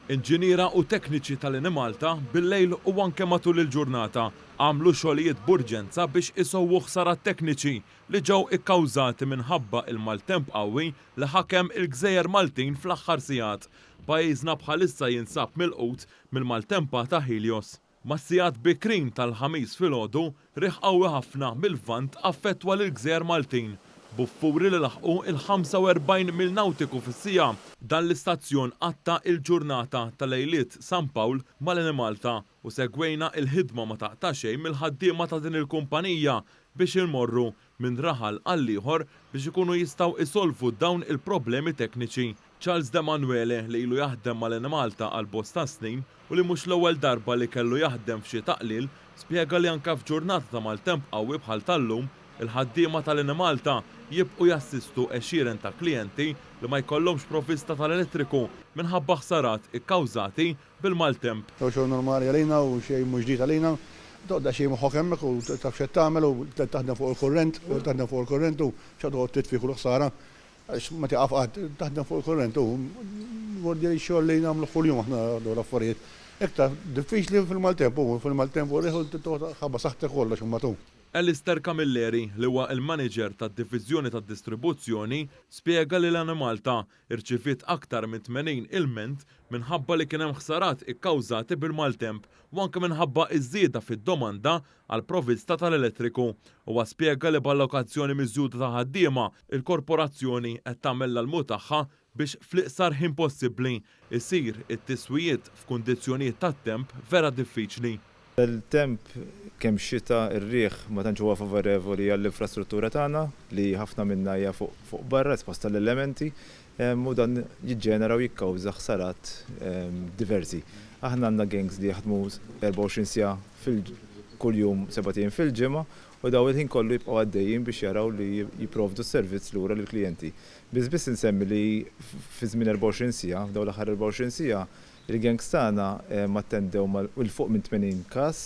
Inġiniera u tekniċi tal-Enemalta bil-lejl u anke matul il-ġurnata għamlu xogħlijiet b'urġenza biex isewwu ħsarat tekniċi li ġew ikkawżati minħabba il-maltemp qawwi li ħakem il-gżejjer Maltin fl-aħħar sigħat. Pajjiżna bħalissa jinsab milqut mill-maltempata Helios. Mas-sigħat bikrin tal-Ħamis filgħodu, riħ qawwi ħafna mil-Lvant affettwa lill-gżejjer Maltin, b'vapuri li laħqu l-45 mil nawtiku fis-siegħa. Dan l-istazzjon qatta' il-ġurnata ta' Lejliet San Pawl mal-Enemalta u segwejna il-ħidma ma taqta' xejn mill-ħaddiema ta' din il-kumpanija biex immorru minn raħal għall-ieħor biex ikunu jistgħu jsolvu dawn il-problemi tekniċi. Charles D'Emanuele li ilu jaħdem mal-Enemalta għal bosta snin u li mhux l-ewwel darba li kellu jaħdem f'xi taqlil, spjega li anke f'ġurnata ta' maltemp qawwi bħal tal-lum, il-ħaddiema tal-Enemalta jibqgħu jassistu għexieren ta' klijenti li ma jkollhomx provvista tal-elettriku minħabba ħsarat ikkawżati bil-maltemp. Jew xogħol normali għalina u xejn mhu ġdid għalina. Toqgħod daqsxejn moħħok hemmhekk u taf x'qed tagħmel u taħdem fuq il-kurrent, taħdem fuq il-kurrent u x'għad toqgħod titfi kull ħsara għax ma tieqaf qatt, taħdem fuq il-kurrent u jmordi x-xogħol li nagħmluh kuljum aħna dawn l-affarijiet. Iktar diffiċli fil-maltemp hu, fil-maltemp u r-riħ u toqgħod ħabba saħħtek kollox imbagħad hu. Alistair Camilleri, li huwa l-maniġer tad-diviżjoni tad-distribuzzjoni, spjega li l-Enemalta irċiviet aktar minn 80 ilment minħabba li kien hemm ħsarat ikkawżati bil-maltemp u anke minħabba iż-żieda fid-domanda għall-provista tal-elettriku. Huwa spjega li b'allokazzjoni miżjuda ta' ħaddiema, il-korporazzjoni qed tagħmel l-almu tagħha biex fl-iqsar ħin possibbli jsir it-tiswijiet f'kundizzjonijiet tat-temp vera diffiċli. Bel-temp, kemm xita, ir-riħ ma tantx huwa favorevoli għall-infrastruttura tagħna li ħafna minnha hija fuq barra, esposta l-elementi, u dan jiġġenera u jikkawża ħsarat diversi. Aħna għandna gangs li jaħdmu 24 siegħa fil kull jum sebat ijiem fil-ġimgħa u dawn il-ħin kollu jibqgħu għaddejjin biex jaraw li jipprovdu s-servizz lura lill-klijenti. Biss biss insemmi li fi żmien 24 siegħa, f'dawn l-aħħar 24 siegħa, Il-gangs tagħna attendew ma' 'l fuq minn 80 każ.